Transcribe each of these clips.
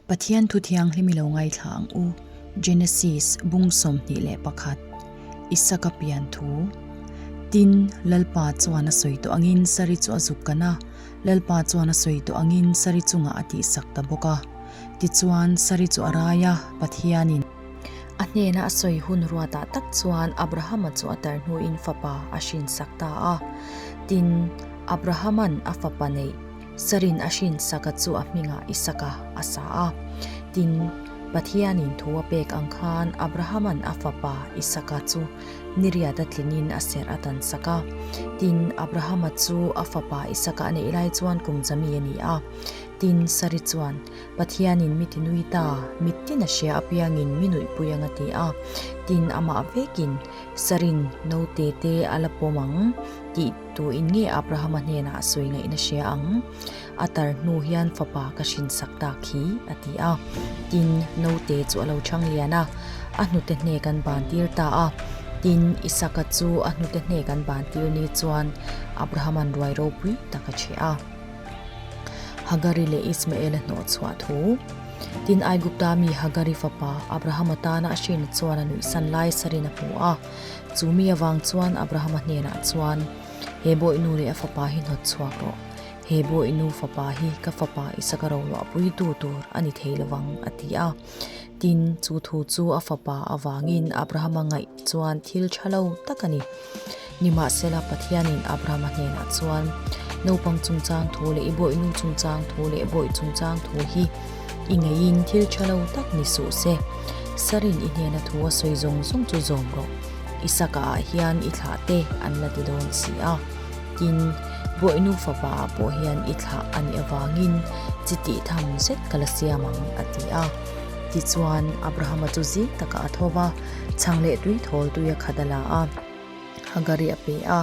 Pathian Thu Thianghlim i lo ngaithla ang u, Genesis bung sawmhnih leh pakhat, Isaka pian thu. Tin, Lalpa chuan a sawi tawh angin saree chu a zuk kan a, Lalpa chuan a sawi tawh angin saree chungah a tihsak ta bawk a. Tichuan, saree chu a rai a, Pathianin. A hnena a sawi hun ruatah tak chuan Abrahama chu a tar hnuin fapa a hrinsak ta a. Tin, Abrahaman a fapa neih. Sarin a hrin saka chu a hminga Isaka a sa a. Tin, Pathianin thu a pek ang khan Abrahaman a fapa Isaka chu niriat a tlinin a serh a tan sak a. Tin, Abrahama chu a fapa Isaka a neih lai chuan kum zami a ni a. Tin, Sari chuan, Pathianin mi tinui ta, mittin a hria apiangin mi nuihpui a nga ti a. Tin, amah vekin Sarin naute te a la pawm ang tih. Tuin nge Abrahama hnenah a sawi ngaihna hria ang? A tar hnu hian fapa ka hrinsak tak hi, a ti a. Tin, naute chu a lo chhang lian a, a hnute hnek an bantir ta a. Tin, Isaka chu a hnute hnek an bantir ni chuan Abrahama'n ruai ropui tak a chhe a. Hagari leh Ismaela hnawh chhuah thu. Tin, Aigupta mi Hagari fapa Abrahama tana a hrin chuan a nuihsan lai sarina hmu a. Chu mi avang chuan Abrahama hnenah chuan, He bawihnu leh a fapa hi hnawt chhuak rawh. He bawihnu fapa hi ka fapa Isaka rorua puitu tur a ni thei lo vang, a ti a. Tin, chu thu chu a fapa avangin Abrahama ngaih chuan thil tha lo tak a ni. Nimahsela, Pathianin Abrahama hnenah chuan, Naupang chungchang thu leh i bawihnu chungchang thu leh bawi chungchang thu hi, I ngeiin thil tha lo tak ni suh se. Sarin i hnena thu a sawi zawng zawng chu zawm rawh. I saka ah hian i thlah te an la ti dawn si a. Tin, Buainu fava ah pawh hian i thlah a nih avangin chi tih tham zet ka la siam ang, a ti a. Tichuan, Abrahama chu zing taka a tho va, chhang leh tui thawl tui a khat a la a. Hagari a pe a,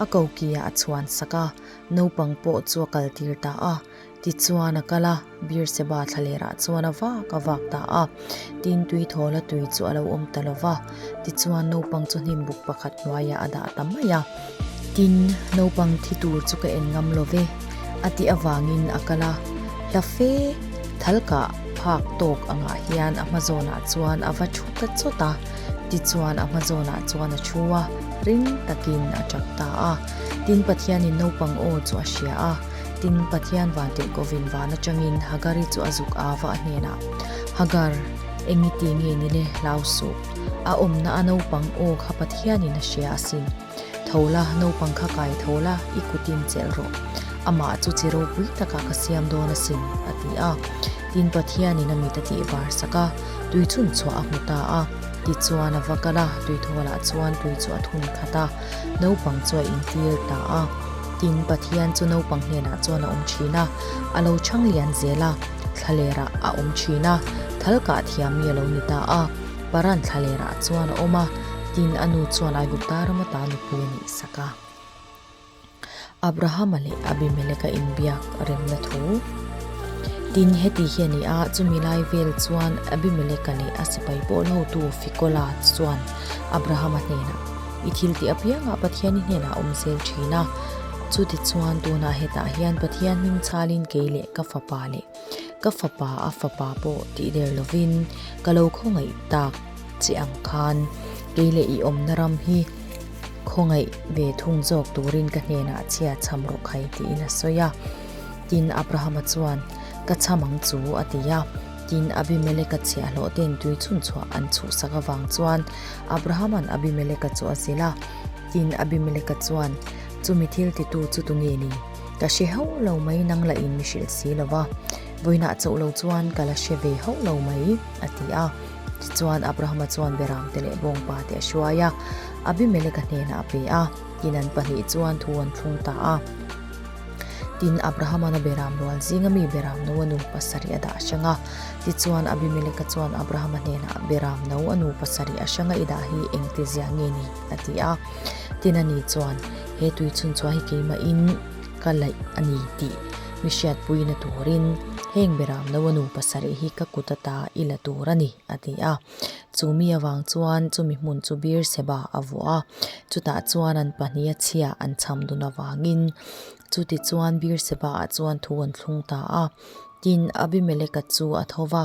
a ko kiah a chhuan sak a, naupang pawh chu a kal tir ta a. Tichuan a kal a, Birseba thla lerah chuan a vak a vak ta a, tin tui thawla tui chu a lo awm ta lo va, tichuan naupang chu hnim buk pakhat hnuaiah a dah ta mai a. Tin, naupang thi tur chu ka en ngam lo ve, a tih avangin a kal a, hla fe thal kah phak tawk angah hian a hma zawnah chuan a va thu ta chawt a, tichuan a hma zawnah chuan a thu a, ring takin a chak ta a, tin Pathianin naupang aw chu a hria a. Tin, Pathian van tihkohvin vân aṭangin Hagari chu a zuk a va a hnênah, Hagar, eng i ti nge ni le? Hlau suh. A awmna a naupang aw kha Pathianin a hria a si. Tho la, naupang kha kai tho la, i kutin chelh rawh. Amah chu chi ropui takah ka siam dawn a sin, a ti a. Tin, Pathianin a mit a tihvârsak a, tui chhun chhuah a hmu ta a. Tichuan, a va kal a, tui thawlah chuan tui chu a thun khat a. Naupang chu a intlîl ta a. Tin, Pathian chu naupang hnenah chuan a awm thin a, a lo chhang lian zel a, thlalerah a awm thin a, thal kah thiam mi a lo ni ta a, Paran thlalerah chuan a awm a, tin, a nu chuan Aigupta rama ta nupui a nih sak a. Abrahama leh Abimeleka inbiak remna thu. Tin, heti hi a ni a, chumi lai vel chuan Abimeleka leh a sipai pawlhotu Ficola chuan Abrahama hnenah, I thil tih apiangah Pathian i hnenah awm zel thin a. Chutichuan tunah hetah hian Pathian hming chhalin kei leh ka fapa leh ka fapa a fapa pawh tih der lovin ka lo khawngaih tak che ang khan kei leh i awmna ram hi khawngaih ve thung zawk turin ka hnenah chhia chham rawh khai tiin a sawi a. Tin Abrahama chuan, Ka chham ang chu a ti a. Tin, Abimeleka chhe a hlawh ten tui chhun chhuah an chhuhsak avang chuan Abrahaman Abimeleka chu a zil a. Tin, Abimeleka chuan, Chumi thiltitu chu tu nge ni? Ka hre ho lo mai nang la in mi hrilh si lo va, vawiinah chauh lo chuan ka la hre ve ho lo mai, a ti a. Tichuan, Abrahama chuan Beram te leh bawng pa te a hruai a, Abimeleka hnenah a pe a. Tin, an pahnih chuan thu an thlung ta a. Tin, Abrahama na beram rual zinga mi beram no a nu pasarih a dah hrang a. Tichuan, Abimeleka chuan Abrahama hnenah, Beram no a nu pasarih a hranga i dah hi engti zia nge ni? a ti a. Tin, a ni chuan, He tui chhunchhuah hi keimahin ka laih a ni tih mihriatpui na turin, heng beram no a nu pasarih hi ka kut ata i la tur a ni, a ti a. Chu mi avang chuan chumi hmun chu beer seba a vuah a, chutah chuan an pahnih a chhia an chham dun avangin chuti chuan beer seba ah chuan thu an thlung ta a. Tin, Abimeleka chu a tho va,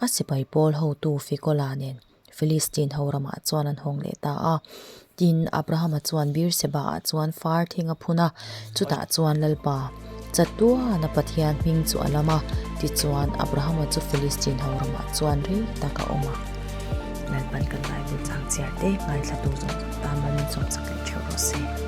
a sipai pawl hotu Fikola nen Filistin ho ramah chuan an hawng leh ta a. Tin, Abrahama chuan Birseba ah chuan far thing a phun a, chutah chuan Lalpa, chatuana Pathian hming chu a lam a, tichuan, Abrahama chu Filistin ho ramah chuan rei tak a awm a. Lalpan kan Bible chang chhiar te ngaihthlatu zawng zawng tan lo min sawmsak leh theuh rawh se. Amen.